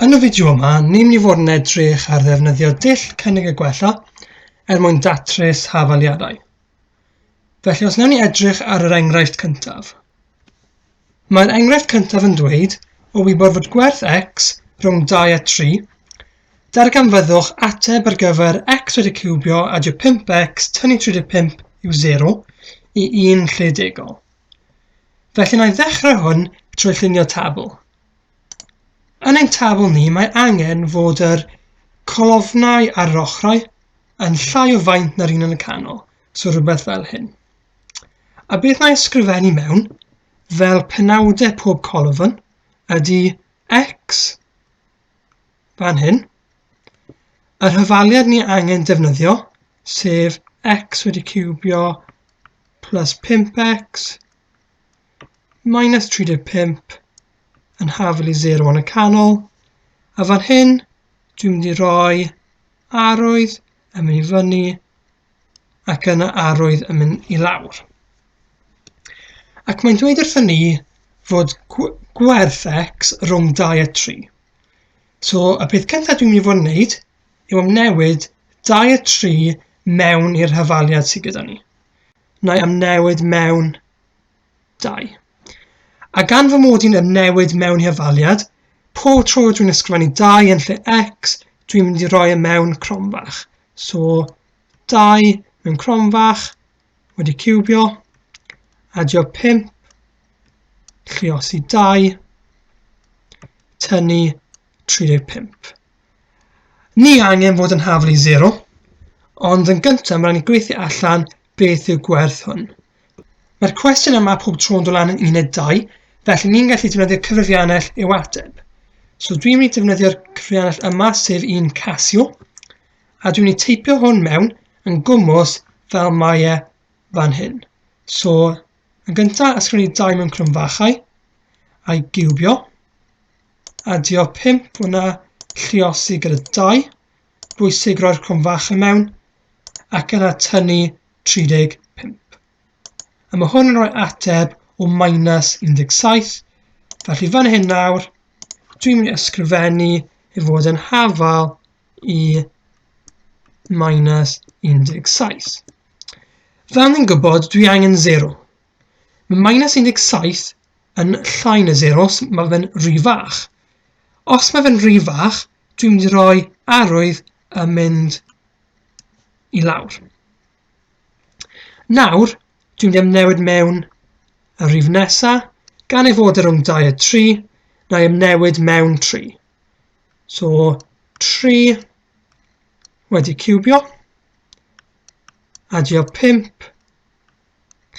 Yn y fideo yma, ni'n mynd i fod yn edrych ar ddefnyddio dull cynnig y gwella er mwyn datrys hafaliadau. Felly os newn ni edrych ar yr enghraifft cyntaf. Mae'r enghraifft cyntaf yn dweud o wybod fod gwerth x rhwng 2 a 3, darganfyddwch ateb ar gyfer x wedi cywbio a dy 5x tynnu 35 yw 0 i un lle degol. Felly na i ddechrau hwn trwy llunio tabl. Yn ein tabl ni mae angen fod yr colofnau ar yr ochrau yn llai o faint na'r un yn y canol, so rhywbeth fel hyn. A beth na i ysgrifennu mewn, fel penawdau pob colofn, ydy x, fan hyn, y rhyfaliad ni angen defnyddio, sef x wedi cubio plus 5x minus 35 yn hafel i 0 yn y canol, a fan hyn dwi'n mynd i roi arwydd yn mynd i fyny ac yna arwydd yn mynd i lawr. Ac mae'n dweud wrthyn ni fod gwerth x rhwng 2 a 3. So y peth cyntaf dwi'n mynd i fod yn gwneud yw amnewid 2 a 3 mewn i'r hyfaliad sydd gyda ni. na'i amnewid mewn 2. A gan fy mod i'n amnewid mewn hifaliad, pob tro dwi'n ysgrifennu 2 yn lle x, dwi'n mynd i roi e mewn cromfach. So 2 mewn cromfach, wedi cubio, adio 5, lliosi 2, tynnu 35. Ni angen fod yn haflu 0, ond yn gyntaf mae'n ni gweithio allan beth yw gwerth hwn. Mae'r cwestiwn yma pob tro'n dod lan yn uned 2, felly ni'n gallu defnyddio cyfrifiannell i'w ateb. So dwi'n mynd i defnyddio'r cyfrifiannell yma, sef un Casio, a dwi'n mynd i teipio hwn mewn yn gwmwys fel mae e fan hyn. So, yn gyntaf, ysgrifennu 2 mewn crwmfachau, a'i giwbio, Adio 5 hwnna, lliosi gyda 2, bwysig roi'r cwm fach yn mewn, ac yna tynnu 35. A mae hwn yn rhoi ateb o minus 17, felly fan hyn nawr, dwi'n mynd i ysgrifennu i fod yn hafal i minus 17. Fel ni'n gwybod, dwi angen 0. Mae minus 17 yn llai na 0 os mae fe'n rhy fach. Os mae fe'n rhy fach, dwi'n mynd i roi arwydd a mynd i lawr. Nawr, dwi'n mynd i newid mewn y rhif nesa, gan ei fod e rhwng 2 a 3, na i newid mewn 3. So, 3 wedi cubio, adio 5,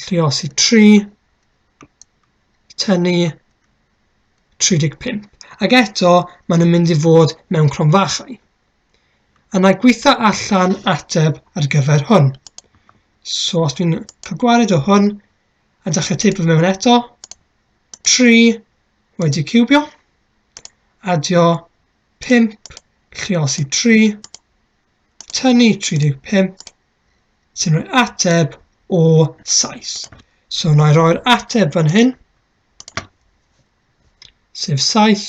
lluosi 3, tynnu 35. Ac eto, maen nhw'n mynd i fod mewn cronfachau. A na gweitha allan ateb ar gyfer hwn. So os dwi'n cael gwared o hwn, a dechrau teipio mewn eto, 3 wedi cubio, adio 5, lluosi 3, tynnu 35, sy'n rhoi ateb o Sais. So na i roi'r ateb fan hyn, sef Sais.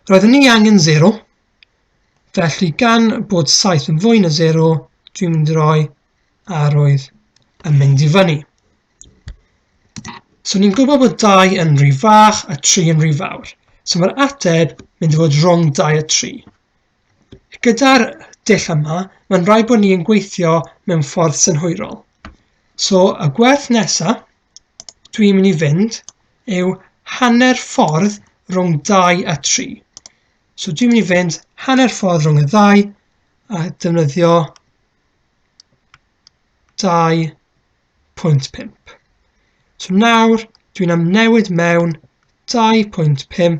Roeddwn ni angen 0, felly gan bod Sais yn fwy na 0, dwi'n mynd i roi arwydd yn mynd i fyny. So ni'n gwybod bod 2 yn rhy fach a 3 yn rhy fawr. So mae'r ateb mynd i fod rhwng 2 a 3. Gyda'r dull yma, mae'n rhaid bod ni'n gweithio mewn ffordd synhwyrol. So, y gwerth nesa dwi'n mynd i fynd yw hanner ffordd rhwng 2 a 3. So dwi'n mynd i fynd hanner ffordd rhwng y ddau a defnyddio 2.5. So nawr dwi'n amnewid mewn 2.5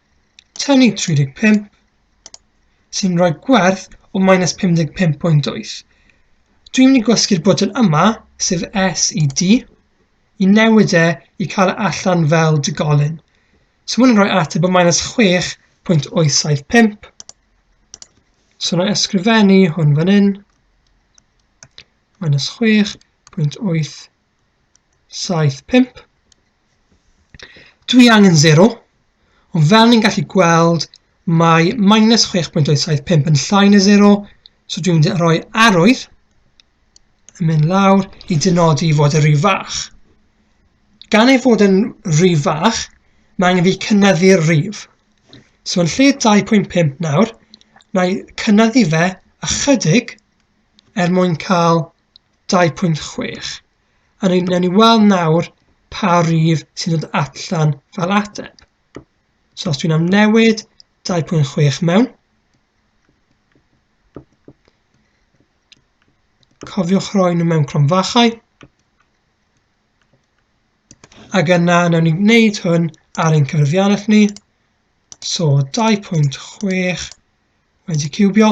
Tynnu 35 sy'n rhoi gwerth o minus 55.8. Dwi'n mynd i gwasgu'r bwtyn yma, sef S i D, i newid e i cael e allan fel digolyn. So mae'n rhoi ateb o minus 6.875. So na ysgrifennu hwn fan hyn. Minus 6.875. 7, 5. Dwi angen 0, ond fel ni'n gallu gweld, mae minus 6.875 yn llai na 0, so dwi'n mynd i roi arwydd yn mynd lawr i dynodi fod y rhy fach. Gan ei fod yn rhy fach, mae angen fi cynnyddu'r rif. So yn lle 2.5 nawr, na i cynnyddu fe ychydig er mwyn cael 2.6. A ni, newn ni weld nawr pa rif sy'n dod allan fel ateb. So os dwi'n amnewid 2.6 mewn, cofiwch roi nhw mewn cronfachau, ac yna newn ni wneud hwn ar ein cyfrifiannell ni, so 2.6 wedi cywbio,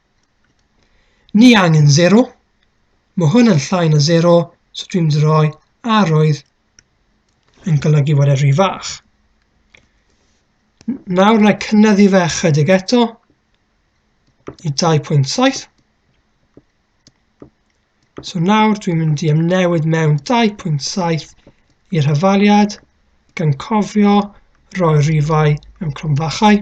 Ni angen zero. Mae hwn yn llai na zero, so dwi'n mynd i roi arwydd yn golygu bod e rhy fach. Nawr na i cynyddu fe chydig eto i 2.7. So nawr dwi'n mynd i ymnewid mewn 2.7 i'r hyfaliad gan cofio roi rifau mewn clwmfachau.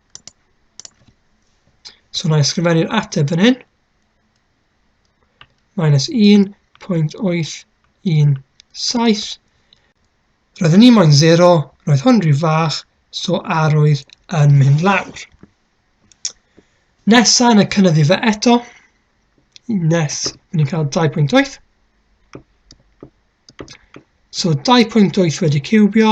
So na i ysgrifennu'r ateb fan hyn. Minus 1.817. Roedd yn un moyn 0, roedd hwn rhyw fach, so arwydd yn mynd lawr. Nesa yn y cynnyddu fe eto. Nes, rydyn ni'n cael 2.8. So 2.8 wedi cywbio.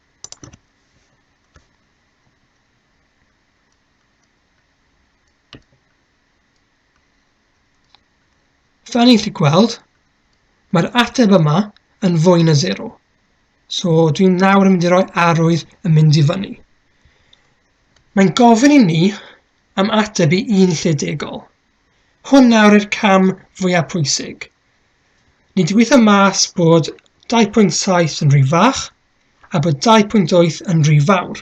Fel ni'n chi gweld, mae'r ateb yma yn fwy na 0. So dwi'n nawr yn mynd i roi arwydd yn mynd i fyny. Mae'n gofyn i ni am ateb i un lle degol. Hwn nawr i'r cam fwyaf pwysig. Ni wedi gweithio mas bod 2.7 yn rhy fach a bod 2.8 yn rhy fawr.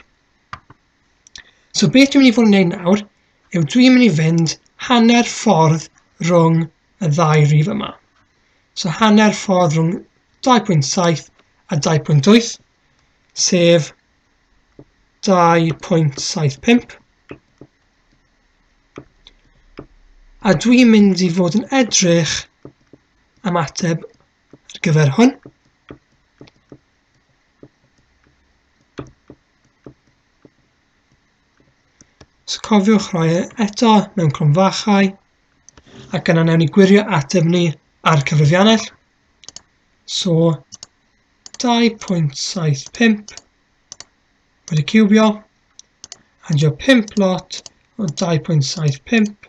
So beth dwi'n mynd i fod yn gwneud nawr yw dwi'n mynd i fynd hanner ffordd rhwng y ddau rif yma. So hanner ffordd rhwng 2.7 a 2.8, sef 2.75. A dwi'n mynd i fod yn edrych am ateb ar gyfer hwn. So cofiwch roi e eto mewn cronfachau ac yna newn ni gwirio ateb ni ar cyfrifiannell. So 2.75 wedi cubio a dio 5 lot o 2.75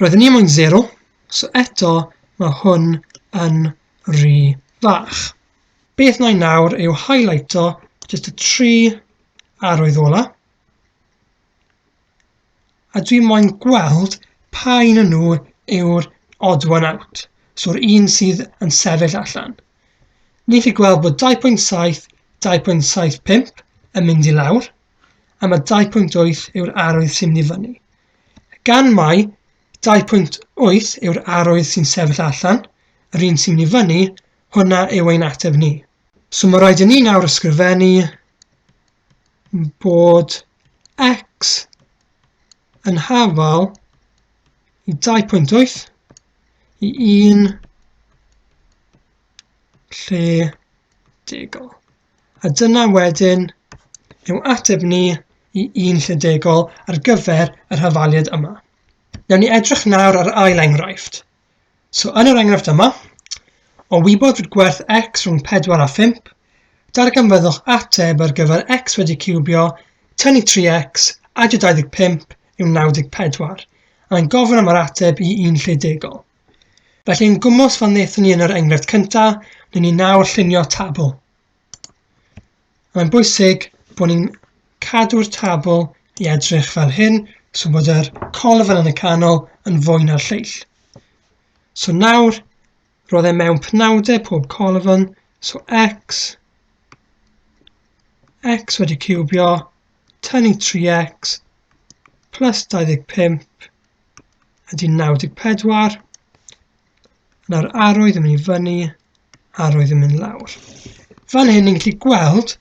Roedden ni moyn 0, so eto mae hwn yn rhy fach. Beth na i nawr yw highlighto jyst y tri arwydd ola. A dwi moyn gweld pa un yn nhw yw'r odd one out, so'r un sydd yn sefyll allan. Ni chi gweld bod 2.7, 2.75 yn mynd i lawr, am y 2.8 yw'r arwydd sy'n mynd i fyny. Gan mai 2.8 yw'r arwydd sy'n sefyll allan, yr un sy'n mynd i fyny, hwnna yw ein ateb ni. So mae rhaid i ni nawr ysgrifennu bod x yn hafal i 2.8 i 1 lle degol. A dyna wedyn yw ateb ni i un llydegol ar gyfer yr hafaliad yma. Newn ni edrych nawr ar ail enghraifft. So yn yr enghraifft yma, o wybod fod gwerth x rhwng 4 a 5, darganfyddwch ateb ar gyfer x wedi ciwbio, tynnu 3x, adio 25 yw 94, a'n gofyn am yr ateb i un lle degol. Felly yn gwmws fel wnaethon ni yn yr enghraifft cyntaf, wnawn ni nawr llunio tabl. Mae'n bwysig bod ni'n cadw'r tabl i edrych fel hyn, so bod yr colofn yn y canol yn fwy na'r lleill. So nawr, roedd e mewn penawdau pob colofn, so x, x wedi cywbio, tynnu 3x, plus 25, ydy 94. Nawr arwydd yn mynd i fyny, arwydd yn mynd lawr. Fan hyn ni'n gallu gweld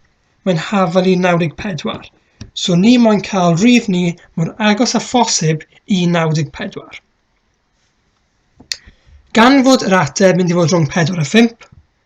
mae'n hafal i 94. So ni moyn cael rhydd ni mor agos â phosib i 94. Gan fod yr ateb mynd i fod rhwng 4 a 5,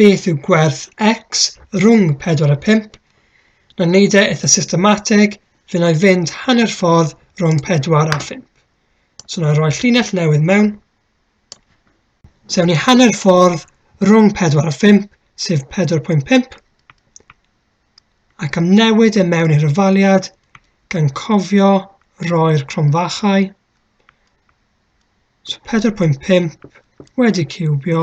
Beth yw gwerth x rhwng 4 a 5? Na wneud e eitha systematig, fe na i fynd hanner ffordd rhwng 4 a 5. So na i roi llinell newydd mewn. So ni hanner ffordd rhwng 4 a 5, sef 4.5. Ac am newid e mewn i'r ofaliad, gan cofio roi'r cronfachau. So 4.5 wedi cywbio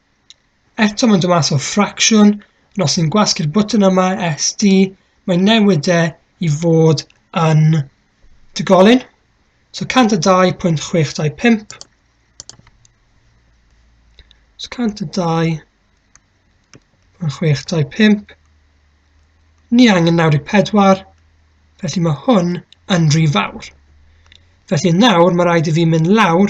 Eto mae'n dod mas o ffracsiwn, ond os ni'n gwasgu'r bwtyn yma, SD, mae newidau i fod yn digolyn. So 102.625. So 102.625. Ni angen 94, felly mae hwn yn rhy fawr. Felly nawr mae rhaid i fi mynd lawr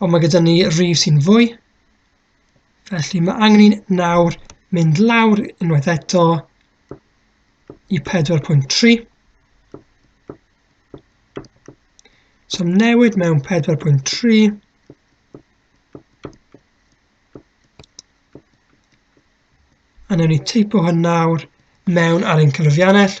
Ond mae gyda ni rif sy'n fwy. Felly mae angen ni nawr mynd lawr unwaith eto i 4.3. So newid mewn 4.3. A newn ni teipo hwn nawr mewn ar ein cyfrifiannell.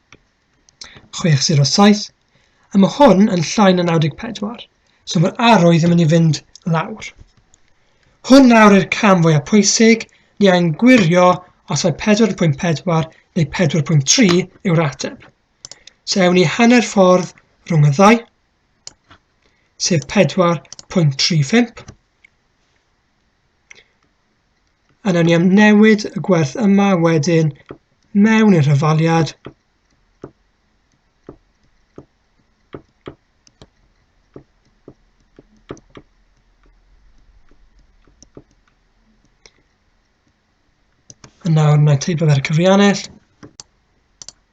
607, a mae hwn yn llai na 94, so mae'r arrow ddim yn ei fynd lawr. Hwn nawr i'r cam fwyaf pwysig, ni a'n gwirio os mae 4.4 neu 4.3 yw'r ateb. So ewn ni hanner ffordd rhwng y ddau, sef 4.35. A nawn ni am newid y gwerth yma wedyn mewn i'r hyfaliad. A nawr mae'n teipio fe'r cyfriannell.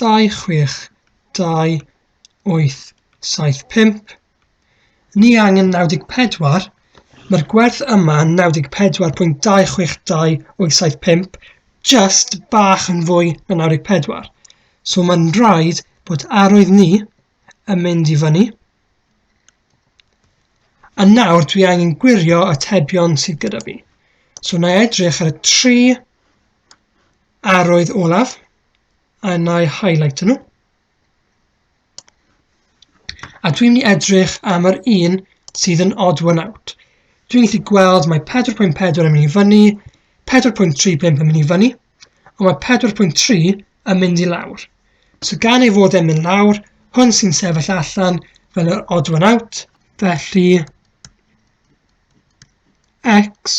26285 Ni angen 94, mae'r gwerth yma yn 94.262875, just bach yn fwy na 94. So mae'n rhaid bod arwydd ni yn mynd i fyny. A nawr dwi angen gwirio y tebion sydd gyda fi. So na edrych ar y tri arwydd olaf. a na i highlight nhw. A dwi'n mynd i edrych am yr un sydd yn odd one out. Dwi'n gallu gweld mae 4.4 yn mynd i fyny, 4.35 yn mynd i fyny, ond mae 4.3 yn mynd i lawr. So gan ei fod e'n mynd lawr, hwn sy'n sefyll allan fel yr odd one out, felly x